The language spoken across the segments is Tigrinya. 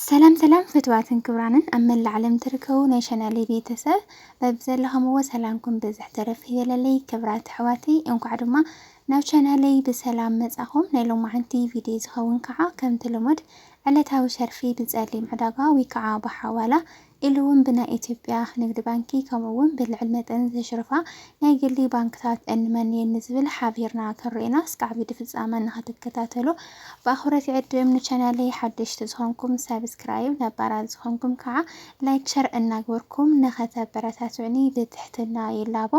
ሰላም ሰላም ፍትዋትን ክብራንን ኣብ መላእ ዓለም ትርከቡ ናይ ቻናለይ ቤተሰብ በብዘለኹምዎ ሰላምኩም ብዝሕ ተረፍ ይበለለይ። ክብራት ኣሕዋተይ እንኳዕ ድማ ናብ ቻናለይ ብሰላም መጻኹም። ናይ ሎማዓንቲ ቪድዮ ዝኸውን ከዓ ከምቲ ልሙድ ዕለታዊ ሸርፊ ብጸሊም ዕዳጋ ወይ ከዓ ብሓዋላ ኢሉ እውን ብናይ ኢትዮጵያ ንግዲ ባንኪ ከምኡ እውን ብልዕል መጠን ዘሽርፋ ናይ ግሊ ባንክታት እንመን እየን ንዝብል ሓቢርና ክንርኤና እስካዕ ቪዲ ፍፃመ ንክትከታተሉ ብኣኽብሮት ይዕድም ንቻናለይ ሓደሽቲ ዝኾንኩም ሳብስክራይብ ነባራት ዝኾንኩም ከዓ ላይክ ሸር እናግበርኩም ንከተበረታትዑኒ ብትሕትና ይላቦ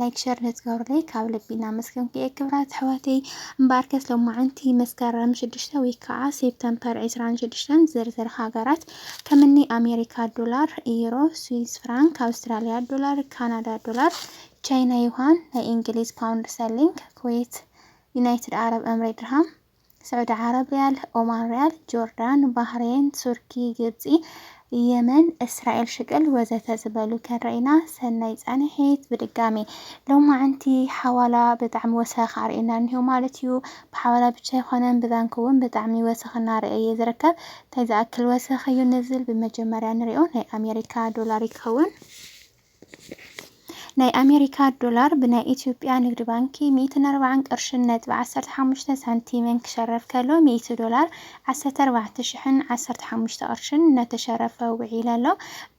ላይክ ሸር ንትገብሩለይ ካብ ልቢ እናመስገንኩ እየ ክብራት ኣሕዋተይ እምበኣርከስ ሎማዓንቲ መስከረም ሽዱሽተ ወይ ከዓ ሴፕተምፐር ዕስራን ሽዱሽተን ዝርዝር ሃገራት ከም እኒ ኣሜሪካ ዶላር፣ ኢዩሮ፣ ስዊዝ ፍራንክ፣ ኣውስትራሊያ ዶላር፣ ካናዳ ዶላር፣ ቻይና ዩሃን፣ ናይ እንግሊዝ ፓውንድ ስተርሊንግ፣ ኩዌት፣ ዩናይትድ ዓረብ እምሬ ድርሃም፣ ስዑዲ ዓረብ ሪያል፣ ኦማን ሪያል፣ ጆርዳን፣ ባህሬን፣ ቱርኪ፣ ግብፂ፣ የመን፣ እስራኤል ሽቅል ወዘተ ዝበሉ ከንረኢና ሰናይ ፃንሒት ብድጋሜ። ሎማዕንቲ ሓዋላ ብጣዕሚ ወሰኽ ኣርእዩና እኒሆ ማለት እዩ። ብሓዋላ ብቻ ኣይኾነን ብባንኪ እውን ብጣዕሚ ወሰኽ እናረኤ እየ ዝርከብ። ታይ ዝኣክል ወሰኽ እዩ ንዝል ብመጀመርያ ንሪኦ ናይ ኣሜሪካ ዶላር ይከውን ናይ ኣሜሪካ ዶላር ብናይ ኢትዮጵያ ንግድ ባንኪ ሚእትን ኣርባዓን ቅርሽን ነጥቢ ዓሰርተ ሓሙሽተ ሳንቲምን ክሸረፍ ከሎ ሚእቲ ዶላር ዓሰርተ ኣርባዕተ ሽሕን ዓሰርተ ሓሙሽተ ቅርሽን እናተሸረፈ ውዒለ ኣሎ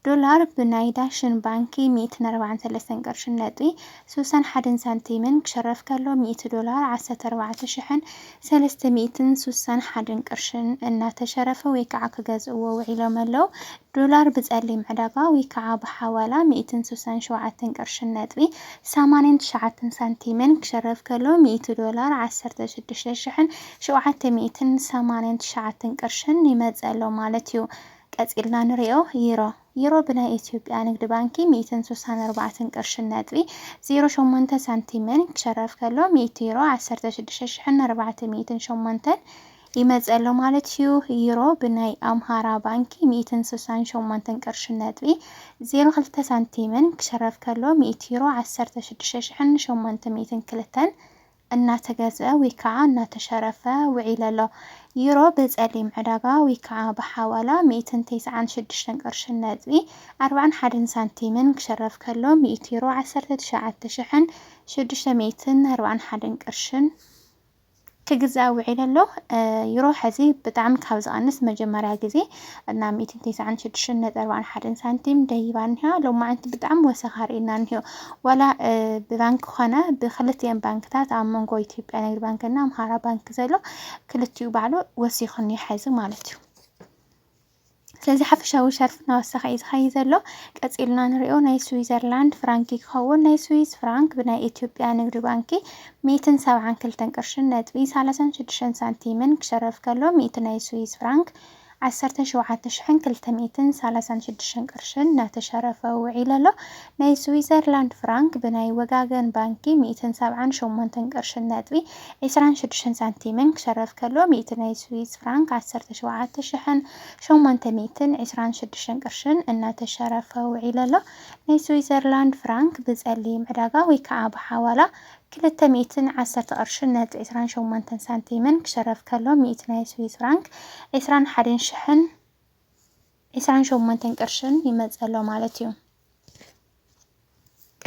ዶላር ብናይ ዳሽን ባንኪ ሚእትን ኣርባዓን ሰለስተን ቅርሽን ነጥቢ ስሳን ሓደን ሳንቲምን ክሸረፍ ከሎ ሚእቲ ዶላር ዓሰርተ ኣርባዕተ ሽሕን ሰለስተ ሚእትን ሱሳን ሓደን ቅርሽን እናተሸረፈ ወይ ከዓ ክገዝእዎ ውዒሎም ኣለው። ዶላር ብፀሊም ዕዳጋ ወይ ከዓ ብሓዋላ ሚእትን ሱሳን ሸውዓተን ቅርሽን ነጥቢ ሰማንያን ትሽዓተን ሳንቲምን ክሽረፍ ከሎ ሚእቲ ዶላር ዓሰርተ ሽዱሽተ ሽሕን ሸውዓተ ሚእትን ሰማንያን ትሽዓተን ቅርሽን ይመፅእ ኣሎ ማለት እዩ። ቀፂልና ንሪኦ። ዩሮ። ዩሮ ብናይ ኢትዮጵያ ንግድ ባንኪ ሚእትን ሱሳን ኣርባዕትን ቅርሽን ነጥቢ ዜሮ ሸሞንተ ሳንቲምን ክሸረፍ ከሎ ሚእቲ ዩሮ ዓሰርተ ሽዱሽተ ሽሕን ኣርባዕተ ሚእትን ሸሞንተን ይመጽእ ኣሎ ማለት እዩ። ዩሮ ብናይ ኣምሃራ ባንኪ ሚእትን ሱሳን ሸሞንትን ቅርሽን ነጥቢ ዜሮ ክልተ ሳንቲምን ክሸረፍ ከሎ ሚእቲ ዩሮ ዓሰርተ ሽዱሽተ ሽሕን ሸሞንተ ሚእትን ክልተን እናተገዝኣ ውይከዓ እናተሸረፈ ውዒለ ኣሎ። ዩሮ ብጸሊም ዕዳጋ ውይከዓ ብሓዋላ ሚእትን ተስዓን ሽዱሽተን ቅርሽን ነጥቢ ኣርባዕን ሓደን ሳንቲምን ክሽረፍ ከሎ ሚእቲ ዩሮ ዓሰርተ ትሽዓተ ሽሕን ሽዱሽተ ሚእትን ኣርባዕን ሓደን ቅርሽን ክግዛእ ውዒለ ኣሎ። ዩሮ ሕዚ ብጣዕሚ ካብ ዝቐንስ መጀመርያ ግዜ እና ሚእትን ቴስዓን ሽዱሽተን ነጥቢ ኣርባዓን ሓደን ሳንቲም ደይባ እኒሃ። ሎማዕንቲ ብጣዕሚ ወሰኻ ርኢና እኒሆ። ዋላ ብባንኪ ኮነ ብክልቲኤን ባንክታት ኣብ መንጎ ኢትዮጵያ ንግድ ባንኪ እና ኣምሃራ ባንኪ ዘሎ ክልቲኡ ባዕሉ ወሲኹ እኒሆ ሐዚ ማለት እዩ። ስለዚ ሓፈሻዊ ሸርፍ እናወሰኸ እዩ ዝኸይ ዘሎ ቀፂልና ንሪኦ ናይ ስዊዘርላንድ ፍራንኪ ክኸውን ናይ ስዊዝ ፍራንክ ብናይ ኢትዮጵያ ንግዲ ባንኪ ሚእትን ሰብዓን ክልተን ቅርሽን ነጥቢ ሰላሳን ሽዱሽተን ሳንቲምን ክሸረፍ ከሎ ሚእቲ ናይ ስዊዝ ፍራንክ ዓሰርተ ሸውዓተ ሽሕን ክልተ ሚእትን ሰላሳን ሽዱሽተን ቅርሺ እናተሸረፈ ውዒሉ ኣሎ። ናይ ስዊዘርላንድ ፍራንክ ብናይ ወጋገን ባንኪ ሚእትን ሰብዓን ሸሞንተን ቅርሽን ነጥቢ ዕስራን ሽዱሽተን ሳንቲምን ክሸረፍ ከሎ ሚእቲ ናይ ስዊዝ ፍራንክ ዓሰርተ ሸውዓተ ሽሕን ሸሞንተ ሚእትን ዕስራን ሽዱሽተን ቅርሽን እናተሸረፈ ውዒሉ ኣሎ። ናይ ስዊዘርላንድ ፍራንክ ብጸሊም ዕዳጋ ወይ ከኣ ብሓዋላ ክልተ ሚእትን ዓሰርተ ቅርሽን ነጥቢ ዕስራን ሸሞንተን ሳንቲምን ክሽረፍ ከሎ ሚእቲ ናይ ስዊዝ ፍራንክ ዕስራን ሓደን ሽሕን ዕስራን ሸሞንተን ቅርሽን ይመጽእ ኣሎ ማለት እዩ።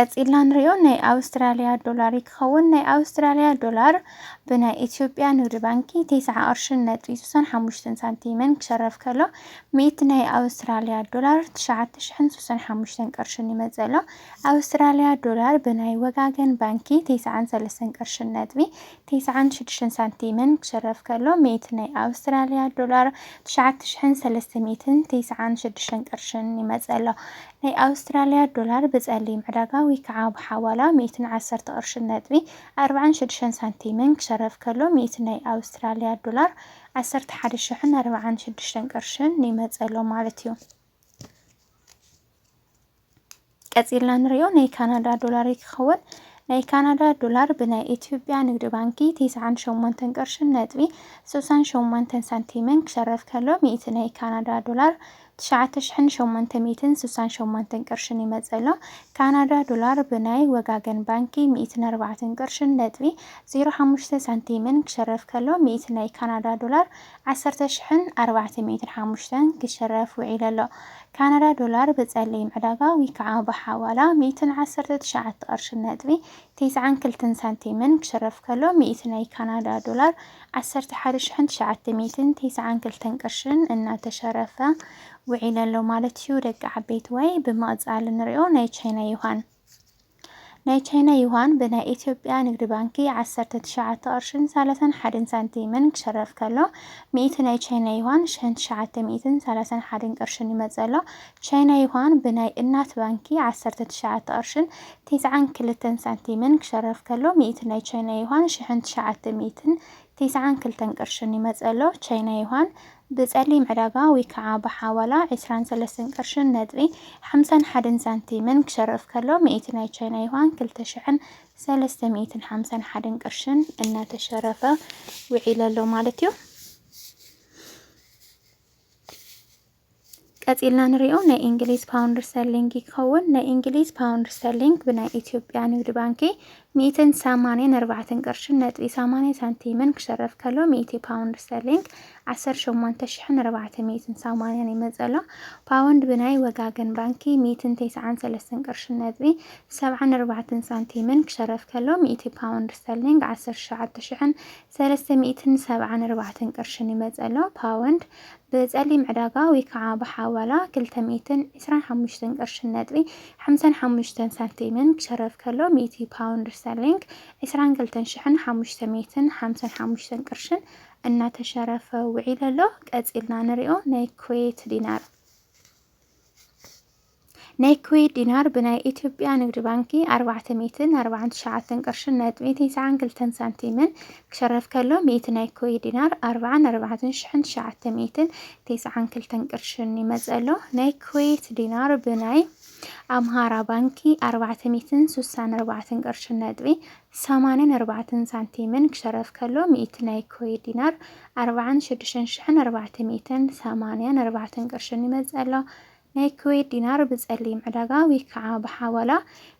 ቀጺልና ንሪኦ ናይ ኣውስትራልያ ዶላር ክኸውን ናይ ኣውስትራልያ ዶላር ብናይ ኢትዮጵያ ንግዲ ባንኪ ቴስዓ ቅርሽን ነጥቢ ስሳን ሓሙሽተን ሳንቲምን ክሸረፍ ከሎ ሚእቲ ናይ ኣውስትራልያ ዶላር ትሽዓተ ሽሕን ስሳን ሓሙሽተን ቅርሽን ይመጽእ ኣሎ። ኣውስትራልያ ዶላር ብናይ ወጋገን ባንኪ ቴስዓን ሰለስተን ቅርሽን ነጥቢ ቴስዓን ሽዱሽተን ሳንቲምን ክሽረፍ ከሎ ሚእቲ ናይ ኣውስትራልያ ዶላር ትሽዓተ ሽሕን ሰለስተ ሚእትን ቴስዓን ሽዱሽተን ቅርሽን ይመጽእ ኣሎ። ናይ ኣውስትራልያ ዶላር ብጸሊም ዕዳጋ ወይ ከኣ ብሓዋላ ሚእትን ዓሰርተ ቅርሽን ነጥቢ ኣርብዓን ሽዱሽተን ሳንቲምን ክሽረፍ ከሎ ሚእቲ ናይ ኣውስትራልያ ዶላር ዓሰርተ ሓደ ሽሕን ኣርብዓን ሽዱሽተን ቅርሽን ይመጽእ ኣሎ ማለት እዩ። ቀጺልና ንሪኦ ናይ ካናዳ ዶላር እዩ ክኸውን። ናይ ካናዳ ዶላር ብናይ ኢትዮጵያ ንግዲ ባንኪ 98 ቅርሽን ነጥቢ 68 ሳንቲምን ክሸረፍ ከሎ ሚእቲ ናይ ካናዳ ዶላር 9868 ቅርሽን ይመጽእ ኣሎ። ካናዳ ዶላር ብናይ ወጋገን ባንኪ 104 ቅርሽን ነጥቢ 05 ሳንቲምን ክሸረፍ ከሎ ሚእቲ ናይ ካናዳ ዶላር ዓሰርተ ሽሕን ኣርባዕተ ሚእትን ሓሙሽተን ክሽረፍ ውዒሉ ኣሎ። ካናዳ ዶላር ብጸሊም ዕዳጋ ውይከዓ ብሓዋላ ሚእትን ዓሰርተ ትሽዓተ ቅርሽን ነጥቢ ቴስዓን ክልተን ሳንቲምን ክሽረፍ ከሎ ሚእቲ ናይ ካናዳ ዶላር ዓሰርተ ሓደ ሽሕን ትሽዓተ ሚእትን ቴስዓን ክልተን ቅርሽን እናተሸረፈ ውዒሉ ኣሎ ማለት እዩ ደቂ ዓበይቲ ዋይ ብምቕጻል እንሪኦ ናይ ቻይና ዩሃን ናይ ቻይና ዩዋን ብናይ ኢትዮጵያ ንግዲ ባንኪ ዓሰርተ ትሽዓተ ቅርሽን ሰላሳን ሓደን ሳንቲምን ክሸረፍ ከሎ፣ ሚእቲ ናይ ቻይና ዩዋን ሸን ትሽዓተ ሚእትን ሰላሳን ሓደን ቅርሽን ይመጽእ ኣሎ። ቻይና ዩዋን ብናይ እናት ባንኪ ዓሰርተ ትሽዓተ ቅርሽን ቴስዓን ክልተን ሳንቲምን ክሸረፍ ከሎ፣ ሚእቲ ናይ ቻይና ዩዋን ሽሕን ትሽዓተ ሚእትን ቴስዓን ክልተን ቅርሽን ይመጽእ ኣሎ። ቻይና ዩዋን ብጸሊም ዕዳጋ ዊከዓ ብሓዋላ ዕስራን ሰለስተን ቅርሽን ነጥቢ ሓምሳን ሓደን ሳንቲምን ክሸርፍ ከሎ ሚእቲ ናይ ቻይና ዩሃን ክልተ ሽሕን ሰለስተ ሚእትን ሓምሳን ሓደን ቅርሽን እናተሸረፈ ውዒሉ ኣሎ ማለት እዩ። ቀጺልና ንሪኦ ናይ እንግሊዝ ፓውንድ ስተርሊንግ ክኸውን ናይ እንግሊዝ ፓውንድ ስተርሊንግ ብናይ ኢትዮጵያ ንግድ ባንኪ ሚእትን ሰማንያን ኣርባዕተን ቅርሽን ነጥቢ ሰማንያ ሳንቲምን ክሸረፍ ከሎ ሚእቲ ፓውንድ ስተርሊንግ ዓሰርተ ሸሞንተ ሽሕን ኣርባዕተ ሚእትን ሰማንያን ይመጸሎ ፓውንድ ብናይ ወጋገን ባንኪ ሚእትን ተስዓን ሰለስተን ቅርሽን ነጥቢ ሰብዓን ኣርባዕተን ሳንቲምን ክሸረፍ ከሎ ሚእቲ ፓውንድ ስተርሊንግ ዓሰርተ ሸውዓተ ሽሕን ሰለስተ ሚእትን ሰብዓን ኣርባዕተን ቅርሽን ይመጽእ ኣሎ፣ ፓወንድ፣ ብጸሊም ዕዳጋ ወይ ከኣ ብሓዋላ ክልተ ሚእትን ዕስራን ሓሙሽተን ቅርሽን ነጥቢ ሓምሳን ሓሙሽተን ሳንቲምን ክሸረፍ ከሎ ሚእቲ ፓውንድ ስተርሊንግ ዕስራን ክልተን ሽሕን ሓሙሽተ ሚእትን ሓምሳን ሓሙሽተን ቅርሽን እናተሸረፈ ውዒሉ ኣሎ። ቀጺልና ንሪኦ ናይ ኩዌት ዲናር። ናይ ኩዌት ዲናር ብናይ ኢትዮጵያ ንግድ ባንኪ ኣርባዕተ ሚእትን ኣርባዓን ትሽዓተን ቅርሽን ነጥቢ ቴስዓን ክልተን ሳንቲምን ክሸረፍ ከሎ ሚእቲ ናይ ኩዌት ዲናር ኣርባዓን ኣርባዕተን ሽሕን ትሽዓተ ሚእትን ቴስዓን ክልተን ቅርሽን ይመጽእ ኣሎ። ናይ ኩዌት ዲናር ብናይ ኣምሃራ ባንኪ ኣርባዕተ ሚእትን ሱሳን ኣርባዕተን ቅርሽን ነጥቢ ሰማንን ኣርባዕተን ሳንቲምን ክሸረፍ ከሎ ሚእቲ ናይ ኩዌት ዲናር ኣርባዓን ሽዱሽተን ሽሕን ኣርባዕተ ሚእትን ሰማንያን ኣርባዕተን ቅርሽን ይመጽእ ኣሎ። ናይ ኩዌት ዲናር ብጸሊም ዕዳጋ ወይ ከኣ ብሓዋላ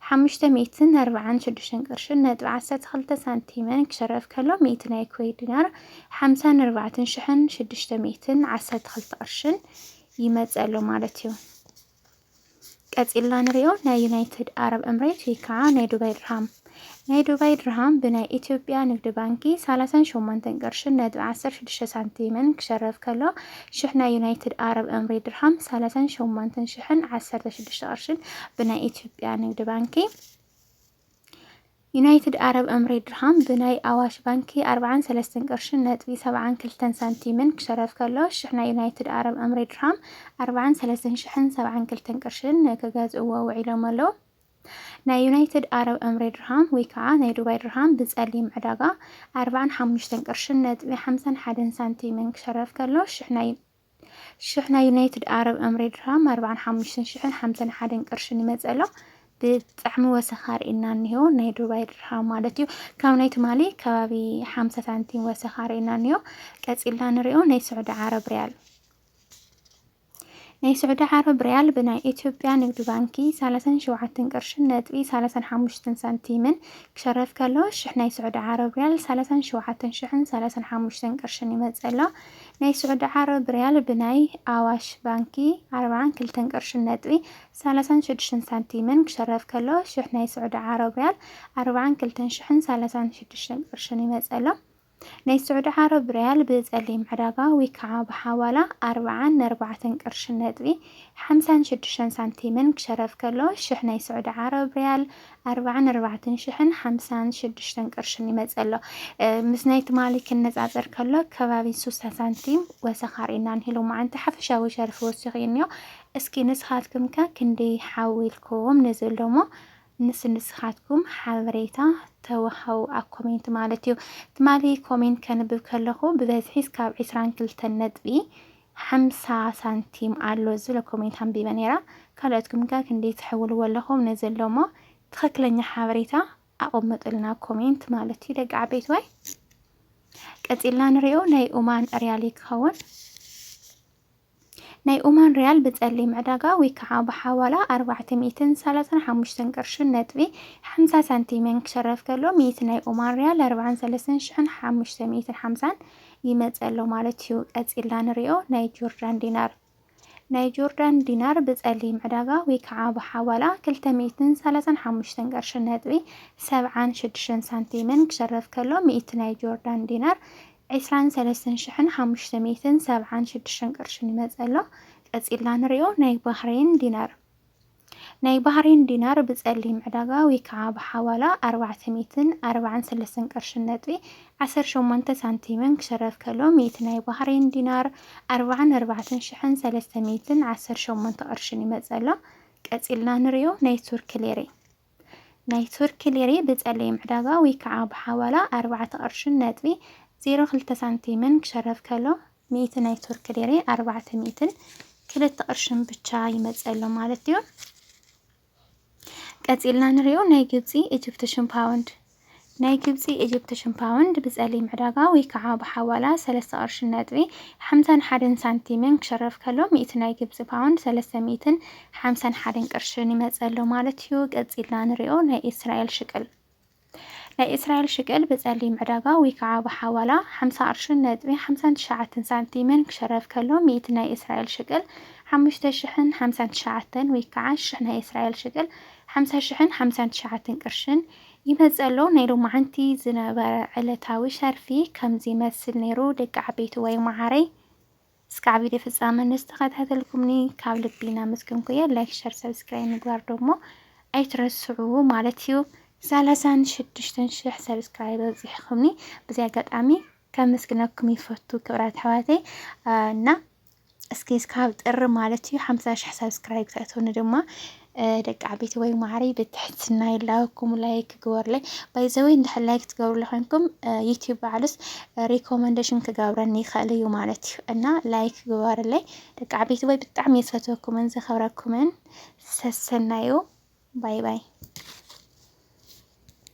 ሓሙሽተ ሚእትን ኣርብዓን ሽዱሽተን ቅርሽን ነጥቢ ዓሰርተ ክልተ ሳንቲምን ክሽረፍ ከሎ ሚእቲ ናይ ኩዌት ዲናር ሓምሳን ኣርባዕተን ሽሕን ሽዱሽተ ሚእትን ዓሰርተ ክልተ ቅርሽን ይመጽእ ኣሎ ማለት እዩ። ቀጺልና ንሪኦ ናይ ዩናይትድ ኣረብ እምሬት ወይ ከኣ ናይ ዱባይ ድርሃም። ናይ ዱባይ ድርሃም ብናይ ኢትዮጵያ ንግዲ ባንኪ ሳላሳን ሸሞንተን ቅርሽን ነጥቢ ዓሰርተ ሽዱሽተ ሳንቲምን ክሸረፍ ከሎ ሽሕ ናይ ዩናይትድ ኣረብ እምሬት ድርሃም ሳላሳን ሸሞንተን ሽሕን ዓሰርተ ሽዱሽተ ቅርሽን ብናይ ኢትዮጵያ ንግዲ ባንኪ ዩናይትድ ኣረብ እምሬት ድርሃም ብናይ ኣዋሽ ባንኪ ኣርብዓን ሰለስተን ቅርሽን ነጥቢ ሰብዓን ክልተን ሳንቲምን ክሸረፍ ከሎ ሽሕ ናይ ዩናይትድ ኣረብ እምሬት ድርሃም ኣርብዓን ሰለስተን ሽሕን ሰብዓን ክልተን ቅርሽን ክገዝእዎ ውዒሎም ኣለዉ። ናይ ዩናይትድ ኣረብ እምሬ ድርሃም ወይ ከዓ ናይ ዱባይ ድርሃም ብፀሊም ዕዳጋ ኣርባዓን ሓሙሽተን ቅርሽን ነጥቢ ሓምሳን ሓደን ሳንቲምን ክሸረፍ ከሎ ሽሕ ናይ ሽሕ ናይ ዩናይትድ ኣረብ እምሬ ድርሃም ኣርባዓን ሓሙሽተን ሽሕን ሓምሳን ሓደን ቅርሽን ይመፅእ ኣሎ። ብጣዕሚ ወሰኻ ርኢና እኒሆ ናይ ዱባይ ድርሃም ማለት እዩ ካብ ናይ ትማሊ ከባቢ ሓምሳ ሳንቲም ወሰኻ ርኢና እኒሆ ቀፂልና ንሪኦ ናይ ስዑዲ ዓረብ ሪያል ናይ ስዑዲ ዓረብ ሪያል ብናይ ኢትዮጵያ ንግድ ባንኪ ሳላሳን ሸውዓትን ቅርሽን ነጥቢ ሳላሳን ሓሙሽትን ሳንቲምን ክሸረፍ ከሎ ሽሕ ናይ ስዑዲ ዓረብ ሪያል ሳላሳን ሸውዓትን ሽሕን ሳላሳን ሓሙሽተን ቅርሽን ይመጽእ ኣሎ። ናይ ስዑዲ ዓረብ ሪያል ብናይ ኣዋሽ ባንኪ ኣርባዓን ክልተን ቅርሽን ነጥቢ ሳላሳን ሽዱሽተን ሳንቲምን ክሸረፍ ከሎ ሽሕ ናይ ስዑዲ ዓረብ ሪያል ኣርባዓን ክልተን ሽሕን ሳላሳን ሽዱሽተን ቅርሽን ይመጽእ ኣሎ። ናይ ስዑዲ ዓረብ ርያል ብጸሊም ዕዳጋ ዊከዓ ብሓዋላ ኣርብዓን ነርባዕተን ቅርሽን ነጥቢ ሓምሳን ሽዱሽተን ሳንቲምን ክሸረፍ ከሎ ሽሕ ናይ ስዑዲ ዓረብ ርያል ኣርብዓን ኣርባዕተን ሽሕን ሓምሳን ሽዱሽተን ቅርሽን ይመጽእ ኣሎ። ምስ ናይ ትማሊ ክነጻጸር ከሎ ከባቢ ሱሳ ሳንቲም ወሰኻ ርኢና ን ሎማዓንቲ ሓፈሻዊ ሸርፊ ወሲኹ እዩ እንዮ። እስኪ ንስኻትኩም ከ ክንደይ ሓዊልኩም ንዝብሎሞ ንስ ንስኻትኩም ሓበሬታ ተወሃቡ ኣብ ኮሜንት ማለት እዩ። ትማሊ ኮሜንት ከንብብ ከለኹ ብበዝሒ ስካብ ዕስራን ክልተን ነጥቢ ሓምሳ ሳንቲም ኣሎ ዝብለ ኮሜንት ኣንቢበ ነይራ። ካልኦትኩም ከ ክንደይ ትሕውልዎ ኣለኹም ነዚ ኣሎ እሞ ትኽክለኛ ሓበሬታ ኣቐምጡልና ኮሜንት ማለት እዩ ደቂ ዓበይቲ ወይ ቀጺልና ንሪኦ ናይ ኡማን ሪያሊ ክኸውን ናይ ኦማን ሪያል ብጸሊም ዕዳጋ ወይ ከዓ ብሓዋላ ኣርባዕተ ሚእትን ሰላሳን ሓሙሽተን ቅርሽን ነጥቢ ሓምሳ ሳንቲምን ክሸረፍ ከሎ ሚእቲ ናይ ኦማን ሪያል ኣርባዓን ሰለስተን ሽሕን ሓሙሽተ ሚእትን ሓምሳን ይመጽእ ኣሎ ማለት እዩ። ቀጺልና ንሪኦ ናይ ጆርዳን ዲናር ናይ ጆርዳን ዲናር ብጸሊም ዕዳጋ ወይ ከዓ ብሓዋላ ክልተ ሚእትን ሰላሳን ሓሙሽተን ቅርሽን ነጥቢ ሰብዓን ሽዱሽተን ሳንቲምን ክሸረፍ ከሎ ሚእቲ ናይ ጆርዳን ዲናር ዕስራን ሰለስተን ሽሕን ሓሙሽተ ሚእትን ሰብዓን ሽዱሽተን ቅርሽን ይመጽእ ኣሎ። ቀጺልና ንሪኦ ናይ ባህረይን ዲናር። ናይ ባህረይን ዲናር ብጸሊም ዕዳጋ ወይ ከዓ ብሓዋላ ኣርባዕተ ሚእትን ኣርባዓን ሰለስተን ቅርሽን ነጥቢ ዓሰርተ ሸሞንተ ሳንቲምን ክሽረፍ ከሎ ሚእቲ ናይ ባህረይን ዲናር ኣርባዓን ኣርባዕተን ሽሕን ሰለስተ ሚእትን ዓሰርተ ሸሞንተ ቅርሽን ይመጽእ ኣሎ። ቀጺልና ንሪኦ ናይ ቱርኪ ሊሪ። ናይ ቱርኪ ሊሬ ብጸሊም ዕዳጋ ወይ ከኣ ብሓዋላ ኣርባዕተ ቅርሽን ነጥቢ ዜሮ ክልተ ሳንቲምን ክሸረፍ ከሎ፣ ሚእቲ ናይ ቱርኪ ሊሬ ኣርባዕተ ሚእትን ክልተ ቅርሽን ብቻ ይመጽእ ኣሎ ማለት'ዩ። ቀጺልና ንሪኦ ናይ ግብጺ ኢጅፕትሽን ፓውንድ። ናይ ግብጺ ኢጅፕትሽን ፓውንድ ብጸሊም ዕዳጋ ወይ ከኣ ብሓዋላ ሰለስተ ቅርሽን ነጥቢ ሓምሳን ሓደን ሳንቲምን ክሸረፍ ከሎ ሚእቲ ናይ ግብጺ ፓውንድ ሰለስተ ሚእትን ሓምሳን ሓደን ቅርሽን ይመጽእ ኣሎ ማለት እዩ። ቀጺልና ንሪኦ ናይ እስራኤል ሽቅል ናይ እስራኤል ሽቅል ብጸሊም ዕዳጋ ወይ ከኣ ብሓዋላ ሓምሳ ቅርሽን ነጥቢ ሓምሳን ትሽዓተን ሳንቲምን ክሸረፍ ከሎ ሚእቲ ናይ እስራኤል ሽቅል ሓሙሽተ ሽሕን ሓምሳን ትሽዓተን ወይ ከኣ ሽሕ ናይ እስራኤል ሽቅል ሓምሳ ሽሕን ሓምሳን ትሽዓተን ቅርሽን ይመጽእ ኣሎ። ናይ ሎማዓንቲ ዝነበረ ዕለታዊ ሸርፊ ከምዚ ይመስል ነይሩ ደቂ ዓበይቲ ወይ ማዓረይ እስከ ዓብዲ ፍጻመ ንዝተከታተልኩምኒ ካብ ልቢ ናመስገንኩ እየ ላይክ ሸር ሰብስክራይብ ምግባር ዶሞ ኣይትረስዑ ማለት እዩ ሳላሳን ሽዱሽተን ሽሕ ሰብስክራይብ ኣብጺሕኩምኒ ብዚ ኣጋጣሚ ከመስግነኩም ይፈቱ ክብራት ኣሕዋተይ እና እስኪ እስካብ ጥሪ ማለት እዩ ሓምሳ ሽሕ ሳብስክራይብ ተእትውኒ ድማ ደቂ ዓበይቲ ወይ ማዕሪ ብትሕትና ይላወኩም ላይክ ግበሩለይ። ባይዘወይ እንድሕር ላይክ ትገብሩለ ኮይንኩም ዩቲዩብ ባዕሉስ ሪኮመንዴሽን ክገብረኒ ይኽእል እዩ ማለት እዩ እና ላይክ ግበሩለይ ደቂ ዓበይቲ ወይ ብጣዕሚ የዝፈትወኩምን ዘኸብረኩምን ሰሰናዩ ባይ ባይ